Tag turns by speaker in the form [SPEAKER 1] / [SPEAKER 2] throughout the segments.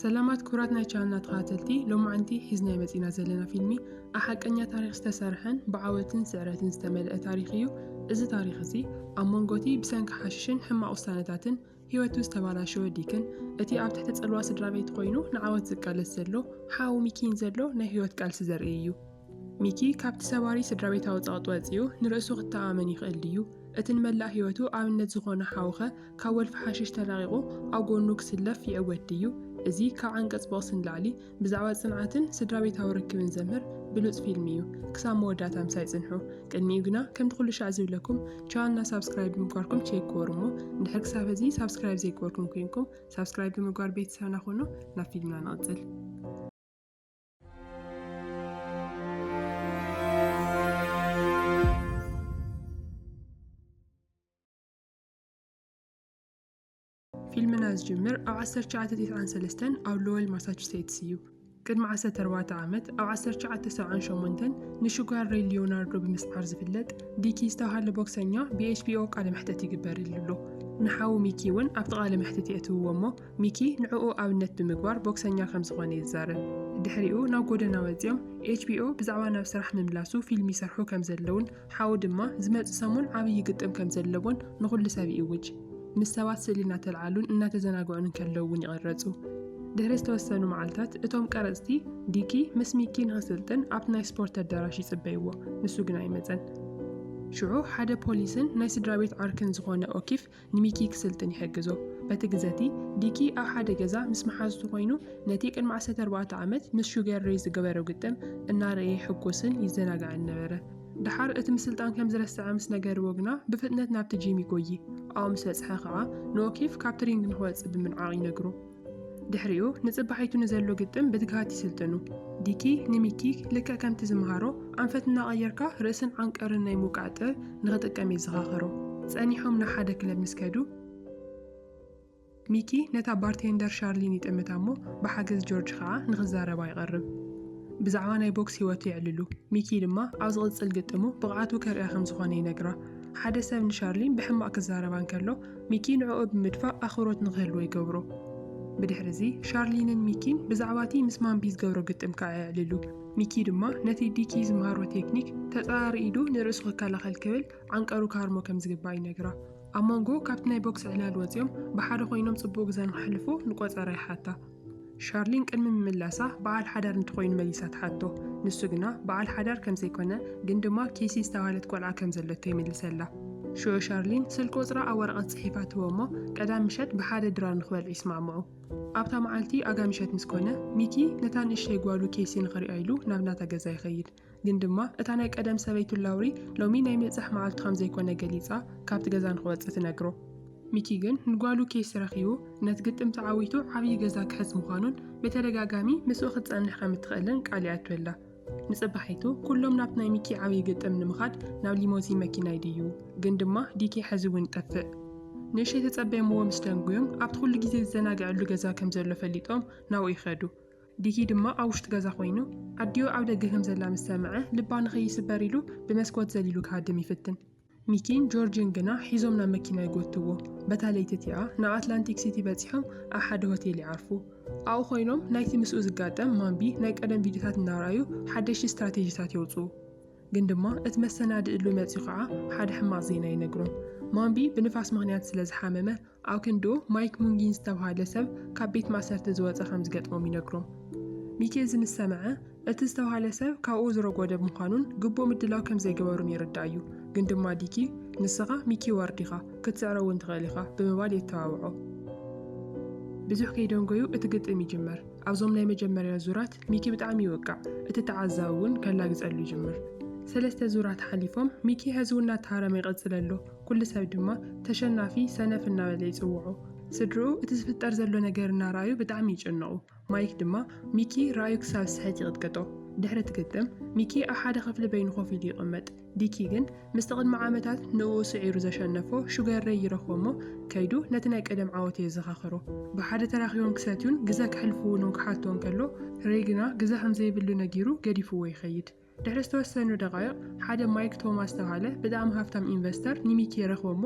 [SPEAKER 1] ሰላማት ክብራት ናይ ቻናልና ተኸታተልቲ ሎማዕንቲ ሒዝናዮ መጺና ዘለና ፊልሚ ብ ሓቀኛ ታሪኽ ዝተሰርሐን ብዓወትን ስዕረትን ዝተመልአ ታሪኽ እዩ። እዚ ታሪኽ እዚ ኣብ መንጎ'ቲ ብሰንኪ ሓሽሽን ሕማቕ ውሳነታትን ህይወቱ ዝተባላሸወ ዲክን እቲ ኣብ ትሕቲ ጽልዋ ስድራቤቱ ኮይኑ ንዓወት ዝቃለስ ዘሎ ሓው ሚኪን ዘሎ ናይ ህይወት ቃልሲ ዘርኢ እዩ። ሚኪ ካብቲ ሰባሪ ስድራቤታዊ ጸቕጢ ወጺኡ ንርእሱ ክተኣማመን ይኽእል ድዩ? እቲ ንመላእ ህይወቱ ኣብነት ዝዀኖ ሓው'ኸ ካብ ወልፊ ሓሽሽ ተላቒቑ ኣብ ጐድኑ ክስለፍ ይዕወት ድዩ? እዚ ካብ ዓንቀጽ ብቕሲ ንላዕሊ ብዛዕባ ጽንዓትን ስድራቤታዊ ርክብን ዘምህር ብሉጽ ፊልም እዩ። ክሳብ መወዳእታ ምሳይ ጽንሑ። ቅድሚኡ ግና ከምቲ ኩሉ ሻዕ ዝብለኩም ቻነልና ሳብስክራይብ ብምግባርኩም ቼክ ግበሩ እሞ እንድሕር ክሳብ ሕዚ ሳብስክራይብ ዘይገበርኩም ኮይንኩም ሳብስክራይብ ብምግባር ቤተሰብና ኹኑ። ናብ ፊልምና ንቕጽል። ፊልምና ዝጅምር ኣብ 1993 ኣብ ሎወል ማሳቹሴትስ እዩ። ቅድሚ 14 ዓመት ኣብ 1978 ንሹጋር ሬይ ሊዮናርዶ ብምስዓር ዝፍለጥ ዲኪ ዝተባሃለ ቦክሰኛ ብኤችቢኦ ቃለ መሕተት ይግበርሉ ኣሎ። ንሓው ሚኪ እውን ኣብቲ ቃለ መሕተት የእትውዎ እሞ ሚኪ ንዕኡ ኣብነት ብምግባር ቦክሰኛ ከም ዝኾነ ይዛረብ። ድሕሪኡ ናብ ጎደና ወጺኦም HBO ብዛዕባ ናብ ስራሕ ምምላሱ ፊልም ይሰርሑ ከም ዘለዉን ሓው ድማ ዝመጽእ ሰሙን ዓብዪ ግጥም ከም ዘለዎን ንኹሉ ሰብ ይእውጅ። ምስ ሰባት ስእሊ እናተልዓሉን እናተዘናግዑን እንከለዉ እውን ይቕረጹ። ድሕሪ ዝተወሰኑ መዓልታት እቶም ቀረጽቲ ዲኪ ምስ ሚኪ ንኽስልጥን ኣብቲ ናይ ስፖርት ኣዳራሽ ይጽበይዎ፣ ንሱ ግን ኣይመጸን። ሽዑ ሓደ ፖሊስን ናይ ስድራቤት ዓርክን ዝኾነ ኦኪፍ ንሚኪ ክስልጥን ይሕግዞ። በቲ ግዘ'ቲ፣ ዲኪ ኣብ ሓደ ገዛ ምስ መሓዙቱ ኰይኑ ነቲ ቅድሚ ዓሰርተ ኣርባዕተ ዓመት ምስ ሹገር ሬይ ዝገበሮ ግጥም እናረኣየ ይሕጐስን ይዘናጋዕን ነበረ። ደሓር እቲ ምስልጣን ከም ዝረስዐ ምስ ነገርዎ ግና ብፍጥነት ናብቲ ጂም ይጐዪ። ኣብኡ ምስ በጽሐ ከኣ ንኦ'ኬፍ ካብቲ ሪንግ ንኽወጽእ ብምንዓቕ ይነግሮ። ድሕሪኡ ንጽባሒቱ ንዘሎ ግጥም ብትግሃት ይስልጥኑ። ዲኪ ንሚኪ ልክዕ ከምቲ ዝመሃሮ ኣንፈት እናቐየርካ ርእስን ዓንቀርን ናይ ምውቃዕ ጥበብ ንኽጥቀም የዘኻኸሮ። ጸኒሖም ናብ ሓደ ክለብ ምስ ከዱ፣ ሚኪ ነታ ባርቴንደር ሻርሊን ይጥምታ እሞ ብሓገዝ ጆርጅ ከኣ ንኽዛረባ ይቐርብ። ብዛዕባ ናይ ቦክስ ህይወቱ የዕልሉ። ሚኪ ድማ ኣብ ዝቕጽል ግጥሙ ብቕዓቱ ከርእያ ከም ዝኾነ ይነግራ። ሓደ ሰብ ንሻርሊን ብሕማቕ ክዛረባ እንከሎ፣ ሚኪ ንዕኡ ብምድፋእ ኣኽብሮት ንኽህልዎ ይገብሮ። ብድሕሪ'ዚ ሻርሊንን ሚኪን ብዛዕባ'ቲ ምስ ማምቢ ዝገብሮ ግጥም ክኣ የዕልሉ። ሚኪ ድማ ነቲ ዲኪ ዝመሃሮ ቴክኒክ ተጻራሪ ኢዱ ንርእሱ ክከላኸል ክብል ዓንቀሩ ክሃርሞ ከም ዝግባእ ይነግራ። ኣብ መንጎ ካብቲ ናይ ቦክስ ዕላል ወጺኦም ብሓደ ኮይኖም ጽቡቕ ግዘ ንኸሕልፉ ንቆጸራ ይሓታ። ሻርሊን ቅድሚ ምምላሳ በዓል ሓዳር እንትኾይኑ መሊሳ ትሓቶ። ንሱ ግና በዓል ሓዳር ከም ዘይኮነ ግን ድማ ኬሲ ዝተባህለት ቆልዓ ከም ዘለቶ ይምልሰላ። ሽዑ ሻርሊን ስልክ ቁጽራ ኣብ ወረቐት ጽሒፋ ትህቦ እሞ ቀዳም ምሸት ብሓደ ድራር ንኽበልዑ ይስማዕምዑ። ኣብታ መዓልቲ ኣጋ ምሸት ምስ ኮነ ሚኪ ነታ ንእሽተይ ጓሉ ኬሲ ንኽሪኣ ኢሉ ናብ ናታ ገዛ ይኸይድ። ግን ድማ እታ ናይ ቀደም ሰበይቱ ላውሪ ሎሚ ናይ ምብጻሕ መዓልቱ ከም ዘይኮነ ገሊጻ ካብቲ ገዛ ንኽወጽእ ትነግሮ። ሚኪ ግን ንጓሉ ኬሲ ረኺቡ ነቲ ግጥም ተዓዊቱ ዓብዪ ገዛ ክሕዝ ምዃኑን ብተደጋጋሚ ምስኡ ክትጸንሕ ከም እትኽእልን ቃል ይኣትወላ። ንጽባሒቱ ኩሎም ናብቲ ናይ ሚኪ ዓብዪ ግጥም ንምኻድ ናብ ሊሞዚን መኪና ይድይቡ። ግን ድማ ዲኬ ሕዚ እውን ይጠፍእ። ንእሽተይ ተጸበዮምዎ ምስ ደንጉዩም ኣብቲ ኩሉ ግዜ ዝዘናግዐሉ ገዛ ከም ዘሎ ፈሊጦም ናብኡ ይኸዱ። ዲኪ ድማ ኣብ ውሽጢ ገዛ ኮይኑ ኣዲኡ ኣብ ደገ ከም ዘላ ምስ ሰምዐ ልባ ንከይስበር ኢሉ ብመስኮት ዘሊሉ ክሃድም ይፍትን። ሚኪን ጆርጅን ግና ሒዞም ናብ መኪና ይጎትትዎ። በታ ለይቲ እቲኣ ንኣትላንቲክ ሲቲ በጺሖም ኣብ ሓደ ሆቴል ይዓርፉ። ኣብኡ ኮይኖም ናይቲ ምስኡ ዝጋጠም ማምቢ ናይ ቀደም ቪድዮታት እናርኣዩ ሓደሽቲ ስትራቴጂታት የውጽኡ። ግን ድማ እቲ መሰናድእሉ መጺኡ ከኣ ሓደ ሕማቕ ዜና ይነግሮም። ማምቢ ብንፋስ ምኽንያት ስለ ዝሓመመ ኣብ ክንድኡ ማይክ ሙንጊን ዝተብሃለ ሰብ ካብ ቤት ማእሰርቲ ዝወጸ ከም ዝገጥሞም ይነግሮም። ሚኬዚ ምስ ሰምዐ፣ እቲ ዝተብሃለ ሰብ ካብኡ ዝረጎደ ብምዃኑን ግቡእ ምድላው ከም ዘይገበሩን ይርዳእ እዩ፣ ግን ድማ ዲኪ፣ ንስኻ ሚኪ ዋርድ ኢኻ፣ ክትስዕሮ እውን ትኽእል ኢኻ ብምባል የተባብዖ። ብዙሕ ከይደንጎዩ እቲ ግጥም ይጅመር። ኣብዞም ናይ መጀመርያ ዙራት ሚኪ ብጣዕሚ ይውቃዕ፣ እቲ ተዓዛቢ እውን ከላግጸሉ ይጅምር። ሰለስተ ዙራት ሓሊፎም፣ ሚኪ ሕዚ እውን እናተሃረመ ይቕጽል ኣሎ። ኩሉ ሰብ ድማ ተሸናፊ ሰነፍ እናበለ ይጽውዖ። ስድርኡ እቲ ዝፍጠር ዘሎ ነገር እናረኣዩ ብጣዕሚ ይጭነቑ። ማይክ ድማ ሚኪ ረኣዩ ክሳብ ዝስሕት ይቕጥቅጦ። ድሕሪ እቲ ግጥም፣ ሚኪ ኣብ ሓደ ክፍሊ በይኑ ኮፍ ኢሉ ይቕመጥ። ዲኪ ግን ምስቲ ቅድሚ ዓመታት ንእኡ ስዒሩ ዘሸነፎ ሹገር ሬይ ይረኽቦ እሞ ከይዱ ነቲ ናይ ቀደም ዓወት የዘኻኽሮ። ብሓደ ተራኺቦም ክሰትዩን ግዘ ከሕልፉ እውን ክሓቶ እንከሎ፣ ሬይ ግና ግዘ ከም ዘይብሉ ነጊሩ ገዲፍዎ ይኸይድ። ድሕሪ ዝተወሰኑ ደቓይቕ፣ ሓደ ማይክ ቶማስ ዝተብሃለ ብጣዕሚ ሃፍታም ኢንቨስተር ንሚኪ ይረኽቦ'ሞ፣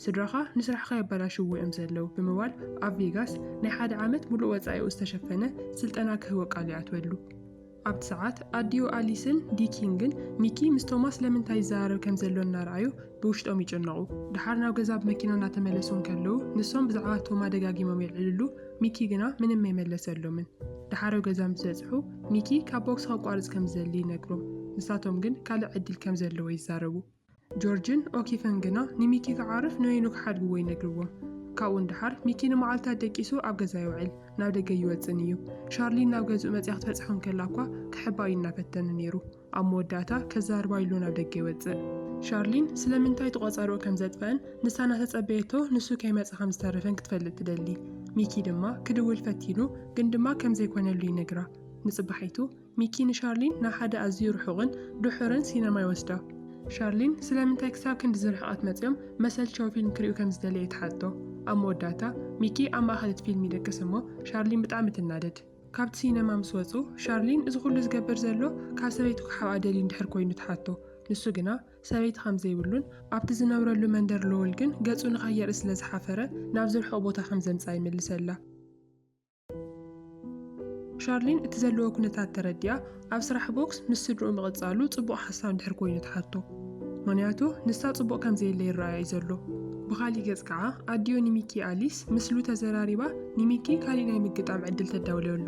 [SPEAKER 1] ስድራኻ ንስራሕኻ የበላሽውዎ እዮም ዘለዉ ብምባል ኣብ ቬጋስ ናይ ሓደ ዓመት ምሉእ ወጻኢኡ ዝተሸፈነ ስልጠና ክህቦ ቃል ይኣትወሉ። ኣብቲ ሰዓት፣ ኣዲኡ ኣሊስን ዲኪን ግን ሚኪ ምስ ቶማስ ለምንታይ ይዘራረብ ከም ዘሎ እናረኣዩ፣ ብውሽጦም ይጭነቑ። ደሓር ናብ ገዛ ብመኪና እናተመለሱ እንከለዉ ንሶም ብዛዕባ ቶማ ደጋጊሞም የልዕልሉ፣ ሚኪ ግና ምንም ኣይመለሰሎምን። ደሓር ኣብ ገዛ ምስ በጽሑ ሚኪ ካብ ቦክሲ ከቋርጽ ከም ዝደሊ ይነግሮም። ንሳቶም ግን ካልእ ዕድል ከም ዘለዎ ይዛረቡ። ጆርጅን ኦኪፈን ግና ንሚኪ ክዓርፍ ንበይኑ ክሓድግዎ ይነግርዎም። ካብኡ ንደሓር ሚኪ ንመዓልታት ደቂሱ ኣብ ገዛ የውዕል፣ ናብ ደገ ኣይወጽእን እዩ። ሻርሊን ናብ ገዝኡ መጺኣ ክትበጽሖ እንከላ'ኳ ክሕባእ እዩ እናፈተነ ነይሩ። ኣብ መወዳእታ ከዛርባ ኢሉ ናብ ደገ ይወጽእ። ሻርሊን ስለምንታይ እቲ ቆጸርኡ ከም ዘጥፈኣን ንሳ እናተጸበየቶ ንሱ ከይመጸ ከም ዝተረፈን ክትፈልጥ ትደሊ። ሚኪ ድማ ክድውል ፈቲኑ ግን ድማ ከም ዘይኮነሉ ይነግራ። ንጽባሒቱ ሚኪ ንሻርሊን ናብ ሓደ ኣዝዩ ርሑቕን ድሑርን ሲነማ ይወስዳ። ሻርሊን ስለምንታይ ክሳብ ክንድዚ ርሕቐት መጺኦም መሰልቸው ፊልም ክርእዩ ከም ዝደለየ ትሓቶ። ኣብ መወዳእታ ሚኪ ኣብ ማእከል እቲ ፊልም ይደቅስ እሞ ሻርሊን ብጣዕሚ ትናደድ። ካብቲ ሲነማ ምስ ወጹ፣ ሻርሊን እዚ ኩሉ ዝገብር ዘሎ ካብ ሰበይቱ ክሓብኣ ደልዩ እንድሕር ኮይኑ ትሓቶ። ንሱ ግና ሰበይቲ ከም ዘይብሉን ኣብቲ ዝነብረሉ መንደር ሎወል ግን ገጹ ንኸየርኢ ስለ ዝሓፈረ ናብዚ ርሑቕ ቦታ ከም ዘምጽኣ ይምልሰላ። ሻርሊን እቲ ዘለዎ ኩነታት ተረዲኣ፣ ኣብ ስራሕ ቦክስ ምስ ስድርኡ ምቕጻሉ ጽቡቕ ሓሳብ እንድሕር ኮይኑ ትሓቶ። ምኽንያቱ ንሳ ጽቡቕ ከም ዘየለ ይረኣያ እዩ ዘሎ። ብኻሊእ ገጽ ከኣ ኣዲኡ ንሚኪ ኣሊስ ምስሉ ተዘራሪባ ንሚኪ ካሊእ ናይ ምግጣም ዕድል ተዳውለሉ።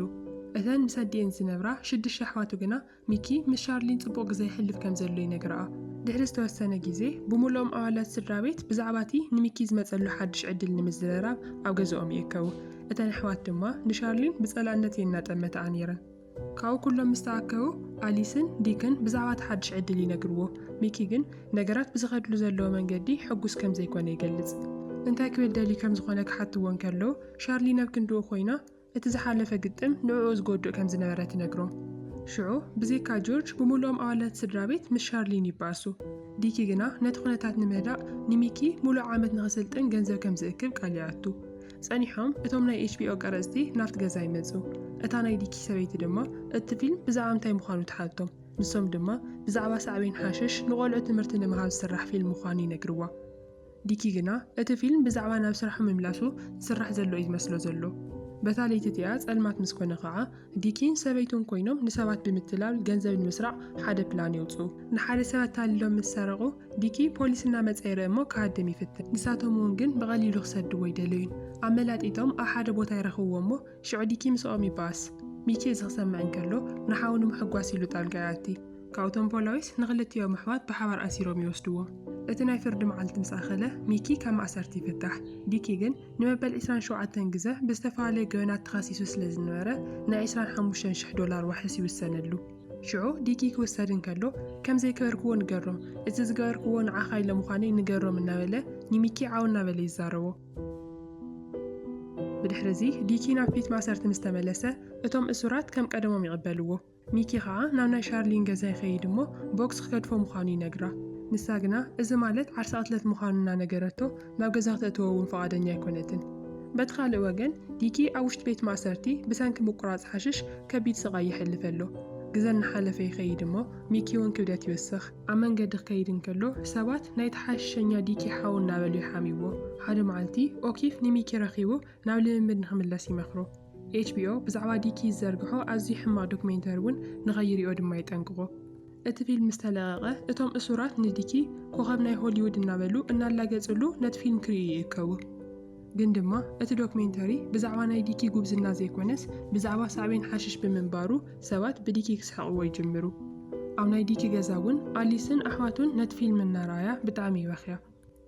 [SPEAKER 1] እተን ምስ ኣዲኤን ዝነብራ ሽዱሽተ ኣሕዋቱ ግና ሚኪ ምስ ሻርሊን ጽቡቕ ግዘ የሕልፍ ከም ዘሎ ይነግርኣ። ድሕሪ ዝተወሰነ ግዜ ብምሉኦም ኣባላት ስድራቤት ብዛዕባ እቲ ንሚኪ ዝመጸሉ ሓድሽ ዕድል ንምዝርራብ ኣብ ገዝኦም ይእከቡ። እተን ኣሕዋት ድማ ንሻርሊን ብጸላእነት እየን እናጠመታኣ ነይረን። ካብኡ ኩሎም ምስ ተኣከቡ፣ ኣሊስን ዲክን ብዛዕባ እቲ ሓድሽ ዕድል ይነግርዎ። ሚኪ ግን ነገራት ብዝኸድሉ ዘለዎ መንገዲ ሕጉስ ከም ዘይኰነ ይገልጽ። እንታይ ክብል ደልዩ ከም ዝዀነ ክሓትዎ እንከለዉ፣ ሻርሊን ኣብ ክንድኡ ኰይና እቲ ዝሓለፈ ግጥም ንዕኡ ዝጐድእ ከም ዝነበረ ትነግሮም። ሽዑ ብዘይካ ጆርጅ ብምሉኦም ኣባላት እቲ ስድራቤት ምስ ሻርሊን ይበኣሱ። ዲኪ ግና ነቲ ኵነታት ንምህዳእ ንሚኪ ምሉእ ዓመት ንኽስልጥን ገንዘብ ከም ዝእክብ ቃል ይኣቱ። ጸኒሖም እቶም ናይ ኤችቢኦ ቀረጽቲ ናብቲ ገዛ ይመጹ። እታ ናይ ዲኪ ሰበይቲ ድማ እቲ ፊልም ብዛዕባ እንታይ ምዃኑ ትሓቶም። ንሶም ድማ ብዛዕባ ሳዕቤን ሓሽሽ ንቖልዑ ትምህርቲ ንምሃብ ዝስራሕ ፊልም ምዃኑ ይነግርዋ። ዲኪ ግና እቲ ፊልም ብዛዕባ ናብ ስራሑ ምምላሱ ዝስራሕ ዘሎ'ዩ ዝመስሎ ዘሎ። በታ ለይቲ እቲኣ ጸልማት ምስ ኮነ ከኣ ዲኪን ሰበይቱን ኮይኖም ንሰባት ብምትላል ገንዘብ ንምስራቕ ሓደ ፕላን የውጽኡ። ንሓደ ሰብ ኣታሊሎም ምስ ሰረቑ፣ ዲኪ ፖሊስ እናመጸ ይርእ'ሞ ክሃድም ይፍትን። ንሳቶም'ውን ግን ብቐሊሉ ክሰድዎ ኣይደለዩን። ኣመላጢጦም ኣብ ሓደ ቦታ ይረኽብዎ'ሞ ሽዑ ዲኪ ምስኦም ይበኣስ። ሚኪ እዚ ክሰምዕ እንከሎ ንሓው ንምሕጓስ ኢሉ ጣልቃ ይኣቲ። ካብኡ'ቶም ፖላዊስ ንኽልቲኦም ኣሕዋት ብሓባር ኣሲሮም ይወስድዎም። እቲ ናይ ፍርዲ መዓልቲ ምስ ኣኸለ ሚኪ ካብ ማእሰርቲ ይፍታሕ። ዲኪ ግን ንመበል ዕስራን ሸውዓተን ግዘ ብዝተፈላለዩ ገበናት ተኸሲሱ ስለ ዝነበረ ናይ ዕስራን ሓሙሽተን ሽሕ ዶላር ዋሕስ ይውሰነሉ። ሽዑ ዲኪ ክውሰድ እንከሎ ከም ዘይገበርክዎ ንገሮም፣ እዚ ዝገበርክዎ ንዓኻ ኢለ ምዃነይ ንገሮም እናበለ ንሚኪ ዓው እናበለ ይዛረቦ። ብድሕሪ እዚ ዲኪ ናብ ፊት ማእሰርቲ ምስ ተመለሰ እቶም እሱራት ከም ቀደሞም ይቕበልዎ። ሚኪ ከኣ ናብ ናይ ሻርሊን ገዛ ይኸይድ እሞ ቦክስ ክገድፎ ምዃኑ ይነግራ። ንሳ ግና እዚ ማለት ዓርሰ ቅትለት ምዃኑ እናነገረቶ ናብ ገዛ ክተእትዎ እውን ፍቓደኛ ኣይኮነትን። በቲ ካልእ ወገን ዲኪ ኣብ ውሽጢ ቤት ማእሰርቲ ብሰንኪ ምቁራጽ ሓሽሽ ከቢድ ስቓይ የሕልፍ ኣሎ። ግዘ እናሓለፈ ይኸይድ እሞ ሚኪ እውን ክብደት ይውስኽ። ኣብ መንገዲ ክኸይድ እንከሎ ሰባት ናይቲ ሓሽሸኛ ዲኪ ሓው እናበሉ ይሓምይዎ። ሓደ መዓልቲ ኦኪፍ ንሚኪ ረኺቡ ናብ ልምምድ ንኽምለስ ይመኽሮ። ኤችቢኦ ብዛዕባ ዲኪ ዝዘርግሖ ኣዝዩ ሕማቕ ዶክሜንተሪ እውን ንኸይሪኦ ድማ የጠንቅቖ። እቲ ፊልም ምስ ተለቐቐ፣ እቶም እሱራት ንዲኪ ኮኸብ ናይ ሆሊውድ እናበሉ እናላገጽሉ ነቲ ፊልም ክርእዩ ይእከቡ። ግን ድማ እቲ ዶክሜንተሪ ብዛዕባ ናይ ዲኪ ጉብዝና ዘይኮነስ ብዛዕባ ሳዕቤን ሓሽሽ ብምንባሩ ሰባት ብዲኪ ክስሕቕዎ ይጅምሩ። ኣብ ናይ ዲኪ ገዛ እውን ኣሊስን ኣሕዋቱን ነቲ ፊልም እናረኣያ ብጣዕሚ ይበኽያ።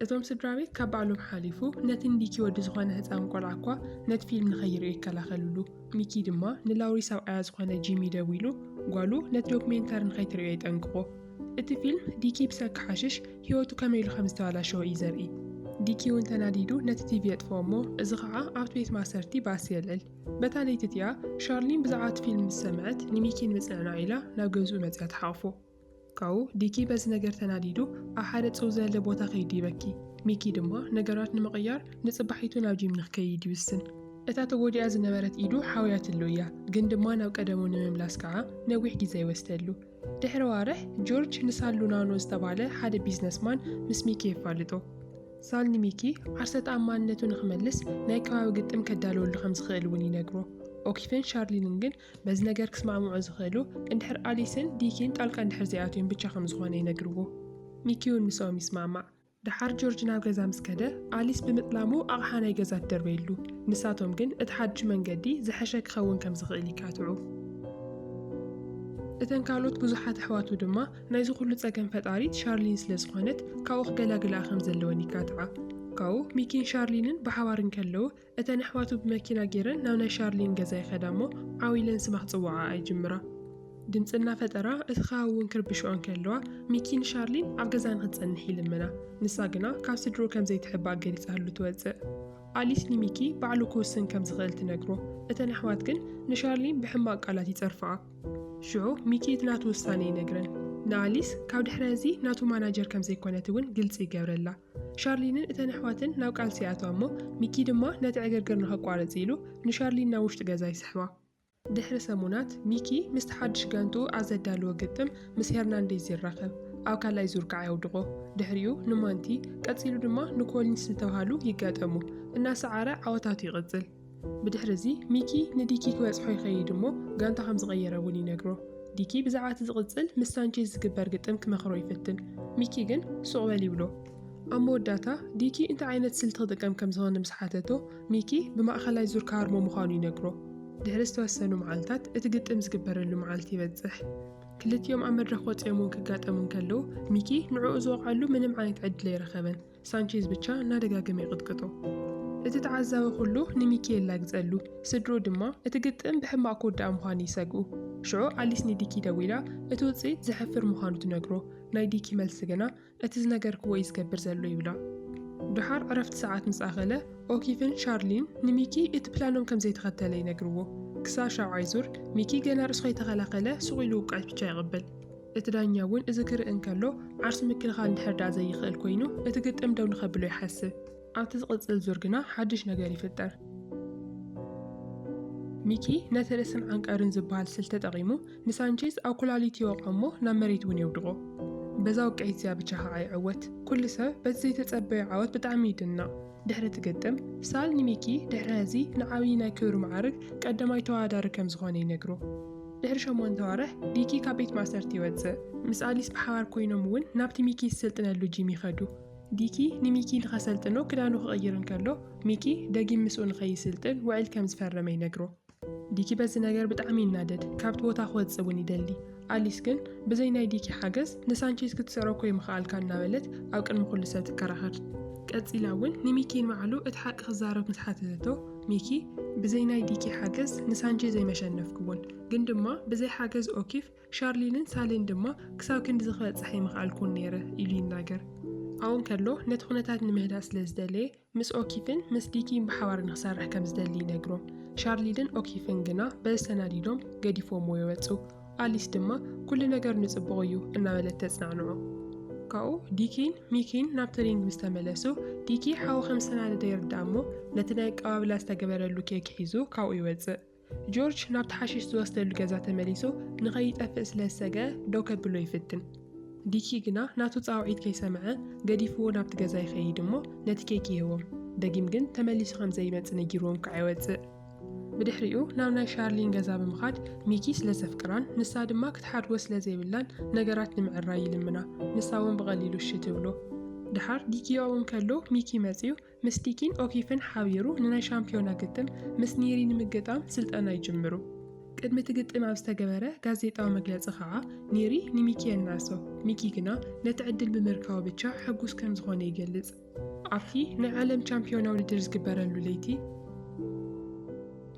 [SPEAKER 1] እቶም ስድራቤት ካብ ባዕሎም ሓሊፉ ነቲ ንዲኪ ወዲ ዝኾነ ህጻን ቆልዓ'ኳ ነቲ ፊልም ንኸይርእዮ ይከላኸልሉ። ሚኪ ድማ ንላውሪ ሰብዓያ ዝኾነ ጂሚ ደዊሉ ጓሉ ነቲ ዶክሜንታሪ ንኸይትርእዮ የጠንቅቖ። እቲ ፊልም ዲኪ ብሰንኪ ሓሽሽ ህይወቱ ከመይ ኢሉ ከምዝተባላሸወ እዩ ዘርኢ። ዲኪ'ውን ተናዲዱ ነቲ ቲቪ የጥፍኦ እሞ እዚ ኸኣ ኣብቲ ቤት ማእሰርቲ ባእሲ የልዕል። በታ ለይቲ እቲኣ ሻርሊን ብዛዕባ እቲ ፊልም ምስ ሰምዐት ንሚኪ ንምጽንናዕ ኢላ ናብ ገዝኡ መጺኣ ትሓቑፎ። ካብኡ ዲኪ በዚ ነገር ተናዲዱ ኣብ ሓደ ጽው ዘለ ቦታ ከይዱ ይበኪ። ሚኪ ድማ ነገራት ንምቕያር ንጽባሒቱ ናብ ጂም ንክከይድ ይውስን። እታ ተጎዲኣ ዝነበረት ኢዱ ሓውያትሉ እያ፣ ግን ድማ ናብ ቀደሙ ንምምላስ ከኣ ነዊሕ ግዜ ይወስደሉ። ድሕሪ ኣዋርሕ ጆርጅ ንሳል ሉናኖ ዝተባህለ ሓደ ቢዝነስማን ምስ ሚኪ የፋልጦ። ሳል ንሚኪ ዓርሰ ተኣማንነቱ ንክመልስ ናይ ከባቢ ግጥም ከዳልወሉ ከም ዝኽእል እውን ይነግሮ። ኦኪፍን ሻርሊንን ግን በዚ ነገር ክስማዕምዑ ዝኽእሉ እንድሕር ኣሊስን ዲኪን ጣልቃ እንድሕር ዘይኣትዮም ብቻ ከም ዝኾነ ይነግርዎ። ሚኪ እውን ምስኦም ይስማዕማዕ። ደሓር ጆርጅ ናብ ገዛ ምስ ከደ ኣሊስ ብምጥላሙ ኣቕሓ ናይ ገዛ ትደርበየሉ። ንሳቶም ግን እቲ ሓዱሽ መንገዲ ዝሐሸ ክኸውን ከም ዝኽእል ይካትዑ። እተን ካልኦት ብዙሓት ኣሕዋቱ ድማ ናይዚ ኩሉ ጸገም ፈጣሪት ሻርሊን ስለ ዝኾነት ካብኡ ክገላግልኣ ከም ዘለወን ይካትዓ። ካብኡ ሚኪን ሻርሊንን ብሓባር እንከለዉ እተን ኣሕዋቱ ብመኪና ጌረን ናብ ናይ ሻርሊን ገዛ ይኸዳ እሞ ዓው ኢለን ስማ ክጽውዓኣ ይጅምራ። ድምጺ እናፈጠራ እቲ ከባቢ እውን ክርብሽኦ እንከለዋ ሚኪ ንሻርሊን ኣብ ገዛ ንኽትጸንሕ ይልምና። ንሳ ግና ካብ ስድርኡ ከም ዘይትሕባእ ገሊጻትሉ ትወጽእ። ኣሊስ ንሚኪ ባዕሉ ክውስን ከም ዝኽእል ትነግሮ። እተን ኣሕዋት ግን ንሻርሊን ብሕማቕ ቃላት ይጸርፍኣ። ሽዑ ሚኪ እቲ ናቱ ውሳኔ ይነግረን። ንኣሊስ ካብ ድሕሪ እዚ ናቱ ማናጀር ከም ዘይኮነት እውን ግልጺ ይገብረላ። ሻርሊንን እተን ኣሕዋትን ናብ ቃልሲ ይኣትዋ እሞ ሚኪ ድማ ነቲ ዕግርግር ንኸቋርጽ ኢሉ ንሻርሊን ናብ ውሽጢ ገዛ ይስሕባ። ድሕሪ ሰሙናት ሚኪ ምስቲ ሓድሽ ጋንትኡ ኣብ ዘዳልዎ ግጥም ምስ ሄርናንዴዝ ይራኸብ፣ ኣብ ካልኣይ ዙር ከኣ የውድቖ። ድሕሪኡ ንማንቲ ቀጺሉ ድማ ንኮሊንስ ዝተብሃሉ ይጋጠሙ፣ እናሰዓረ ዓወታቱ ይቕጽል። ብድሕሪ እዚ ሚኪ ንዲኪ ክበጽሖ ይኸይድ እሞ ጋንታ ከም ዝቐየረ እውን ይነግሮ። ዲኪ ብዛዕባ እቲ ዝቕጽል ምስ ሳንቼዝ ዝግበር ግጥም ክመኽሮ ይፍትን፣ ሚኪ ግን ሱቕ በል ይብሎ። ኣብ መወዳእታ ዲኪ እንታይ ዓይነት ስልቲ ክጥቀም ከም ዝኸነ ምስ ሓተቶ፣ ሚኪ ብማእኸላይ ዙር ክሃርሞ ምዃኑ ይነግሮ። ድሕሪ ዝተወሰኑ መዓልታት እቲ ግጥም ዝግበረሉ መዓልቲ ይበጽሕ። ክልቲኦም ኣብ መድረኽ ወጺኦም እውን ክጋጠሙ እንከለዉ፣ ሚኪ ንዕኡ ዝወቕዐሉ ምንም ዓይነት ዕድል ኣይረኸበን። ሳንቼዝ ብቻ እናደጋገመ ይቕጥቅጦ። እቲ ተዓዛቢ ኩሉ ንሚኪኤላ ግጸሉ፣ ስድርኡ ድማ እቲ ግጥም ብሕማቕ ክውዳእ ምዃኑ ይሰግኡ። ሽዑ ኣሊስ ንዲኪ ደዊላ እቲ ውጽኢት ዘሕፍር ምዃኑ ትነግሮ። ናይ ዲኪ መልሲ ግና እቲ ዝነገርክዎ እዩ ዝገብር ዘሎ ይብላ። ደሓር ዕረፍቲ ሰዓት ምስ ኣኸለ፣ ኦኪፍን ሻርሊን ንሚኪ እቲ ፕላኖም ከም ዘይተኸተለ ይነግርዎ። ክሳብ ሻብዓይ ዙር፣ ሚኪ ገና ርእሱ ከይተኸላኸለ ሱቕ ኢሉ ውቃጭ ብቻ የቕብል። እቲ ዳኛ እውን እዚ ክርኢ እንከሎ ዓርሱ ምክልኻል እንድሕር ደኣ ዘይኽእል ኮይኑ እቲ ግጥም ደው ንኸብሎ ይሓስብ። ኣብቲ ዝቕጽል ዙር ግና ሓድሽ ነገር ይፍጠር። ሚኪ ነቲ ርእስን ዓንቀርን ዝበሃል ስልቲ ተጠቒሙ ንሳንቼዝ ኣብ ኩላሊቱ ይወቕዖ እሞ ናብ መሬት እውን የውድቖ። በዛ ውቅዒት እዚኣ ብቻ ከዓ ይዕወት። ኩሉ ሰብ በቲ ዘይተጸበዮ ዓወት ብጣዕሚ ይድነቕ። ድሕሪ እቲ ግጥም፣ ሳል ንሚኪ ድሕሪ ሐዚ ንዓብዪ ናይ ክብሪ መዓርግ ቀዳማይ ተወዳዳሪ ከም ዝኾነ ይነግሮ። ድሕሪ ሸሞንተ ኣዋርሕ ቢኪ ካብ ቤት ማእሰርቲ ይወጽእ። ምስ ኣሊስ ብሓባር ኮይኖም እውን ናብቲ ሚኪ ዝስልጥነሉ ጂም ይኸዱ። ቢኪ ንሚኪ ንኸሰልጥኖ ክዳኑ ክቕይር እንከሎ፣ ሚኪ ደጊም ምስኡ ንኸይስልጥን ውዕል ከም ዝፈረመ ይነግሮ። ዲኪ በዚ ነገር ብጣዕሚ ይናደድ ካብቲ ቦታ ክወፅእ እውን ይደሊ። ኣሊስ ግን ብዘይ ናይ ዲኪ ሓገዝ ንሳንቼዝ ክትስዕሮ እኮ ኣይምኸኣልካን እናበለት ኣብ ቅድሚ ኩሉ ሰብ ትከራኸር። ቀፂላ እውን ንሚኪ ንባዕሉ እቲ ሓቂ ክዛረብ ምስ ሓተተቶ ሚኪ ብዘይ ናይ ዲኪ ሓገዝ ንሳንቼዝ ኣይመሸነፍክዎን ግን ድማ ብዘይ ሓገዝ ኦኪፍ ሻርሊንን ሳሊን ድማ ክሳብ ክንድዚ ክበፅሕ ኣይምኸኣልኩን ነይረ ኢሉ ይናገር። ኣብኡ እንከሎ ነቲ ኩነታት ንምህዳእ ስለ ዝደለየ ምስ ኦኪፍን ምስ ዲኪን ብሓባር ንክሰርሕ ከም ዝደሊ ይነግሮም። ሻርሊድን ኦኪፍን ግና በዚ ተናዲዶም ገዲፎምዎ ይወጹ። ኣሊስ ድማ ኩሉ ነገር ንጽቡቕ እዩ እናበለት ተጽናንዖ። ካብኡ ዲኪን ሚኪን ናብ ትሪንግ ምስ ተመለሱ ዲኪ ሓዊ ከም ዝተናደደ ይርዳእ እሞ ነቲ ናይ ኣቀባብላ ዝተገበረሉ ኬክ ሒዙ ካብኡ ይወጽእ። ጆርጅ ናብቲ ሓሽሽ ዝወስደሉ ገዛ ተመሊሱ ንኸይጠፍእ ስለ ዝሰግአ ደው ከብሎ ይፍትን። ዲኪ ግና ናቱ ጻውዒት ከይሰምዐ ገዲፍዎ ናብቲ ገዛ ይኸይድ እሞ ነቲ ኬክ ይህቦም። ደጊም ግን ተመሊሱ ከም ዘይመጽእ ነጊርዎም ክዓ ይወጽእ። ብድሕሪኡ ናብ ናይ ሻርሊን ገዛ ብምኻድ ሚኪ ስለ ዘፍቅራን ንሳ ድማ ክትሓድጎ ስለ ዘይብላን ነገራት ንምዕራይ ይልምና። ንሳ እውን ብቐሊሉ እሺ ትብሎ። ድሓር ዲኪ ኣብኡ እንከሎ ሚኪ መጺኡ ምስ ቲኪን ኦኪፍን ሓቢሩ ንናይ ሻምፒዮና ግጥም ምስ ኒሪ ንምግጣም ስልጠና ይጅምሩ። ቅድሚ እቲ ግጥም ኣብ ዝተገበረ ጋዜጣዊ መግለጺ ኸዓ ኒሪ ንሚኪ የናሶ፣ ሚኪ ግና ነቲ ዕድል ብምርካቡ ብቻ ሕጉስ ከም ዝኾነ ይገልጽ። ኣብቲ ናይ ዓለም ቻምፒዮና ውድድር ዝግበረሉ ለይቲ፣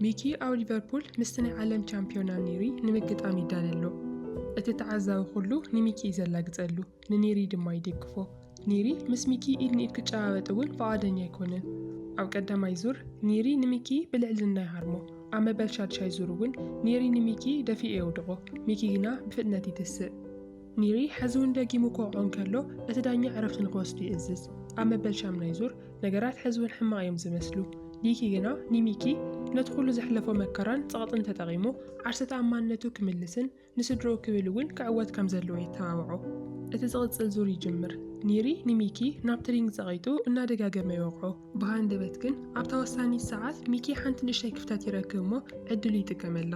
[SPEAKER 1] ሚኪ ኣብ ሊቨርፑል ምስቲ ናይ ዓለም ቻምፒዮና ኒሪ ንምግጣም ይዳለሎ። እቲ ተዓዛቢ ኩሉ ንሚኪ እዩ ዘላግጸሉ። ንኒሪ ድማ ይድግፎ። ኒሪ ምስ ሚኪ ኢድ ንኢድ ክጨባበጥ እውን ፍቓደኛ ኣይኮነን። ኣብ ቀዳማይ ዙር ኒሪ ንሚኪ ብልዕልና ይሃርሞ። ኣብ መበል ሻድሻይ ዙር እውን ኒሪ ንሚኪ ደፊኡ የውድቖ። ሚኪ ግና ብፍጥነት ይትስእ። ኒሪ ሕዚ እውን ደጊሙ ክወቕዖ እንከሎ እቲ ዳኛ ዕረፍቲ ንክወስዱ ይእዝዝ። ኣብ መበል ሻምናይ ዙር ነገራት ሕዚ እውን ሕማቕ እዮም ዝመስሉ። ዲኪ ግና ንሚኪ ነቲ ኩሉ ዘሕለፎ መከራን ጸቕጥን ተጠቒሙ ዓርሰ ተኣማንነቱ ክምልስን ንስድርኡ ክብል እውን ክዕወት ከም ዘለዎ የተባብዖ። እቲ ዝቕጽል ዙር ይጅምር። ኒሪ ንሚኪ ናብቲ ሪንግ ጸቒጡ እናደጋገመ ይወቕዖ። ብሃንደበት ግን ኣብታ ወሳኒት ሰዓት ሚኪ ሓንቲ ንእሽተይ ክፍተት ይረክብ እሞ ዕድሉ ይጥቀመላ።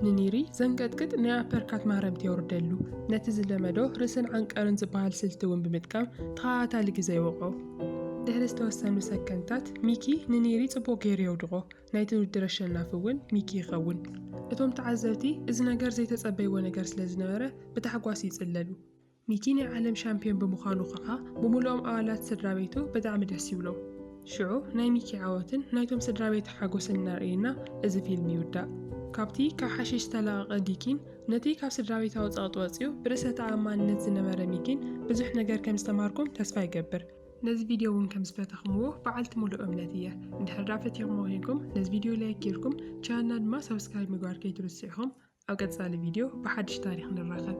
[SPEAKER 1] ንኒሪ ዘንቀጥቅጥ ናይ ኣፐርካት ማህረምቲ የውርደሉ። ነቲ ዝለመዶ ርእስን ዓንቀርን ዝበሃል ስልቲ እውን ብምጥቃም ተኸታታሊ ግዘ ይወቕዖ። ድሕሪ ዝተወሰኑ ሰከንድታት ሚኪ ንኒሪ ጽቡቕ ገይሩ የውድቖ። ናይቲ ውድድር ኣሸናፊ እውን ሚኪ ይኸውን። እቶም ተዓዘብቲ እዚ ነገር ዘይተጸበይዎ ነገር ስለ ዝነበረ ብታሕጓስ ይጽለሉ። ሚኪ ናይ ዓለም ሻምፕዮን ብምዃኑ ከኣ ብምሉኦም ኣባላት ስድራቤቱ ብጣዕሚ ደስ ይብሎም። ሽዑ ናይ ሚኪ ዓወትን ናይቶም ስድራቤቱ ሓጎስን እናርእየና እዚ ፊልም ይውዳእ። ካብቲ ካብ ሓሺሽ ዝተላቐቐ ዲኪን ነቲ ካብ ስድራቤታዊ ጸቕጢ ወጺኡ ብርእሰ ተኣማንነት ዝነበረ ሚኪን ብዙሕ ነገር ከም ዝተማሃርኩም ተስፋ ይገብር። ነዚ ቪድዮ እውን ከም ዝፈተኽምዎ በዓልቲ ሙሉእ እምነት እየ። እንድሕር ደኣ ፈቲኽሞ ኴንኩም ነዚ ቪድዮ ላይክ ጌርኩም ቻናልና ድማ ሳብስክራይብ ምግባር ከይትርስዑ ኢኹም። ኣብ ቀጻሊ ቪድዮ ብሓድሽ ታሪኽ ንራኸብ።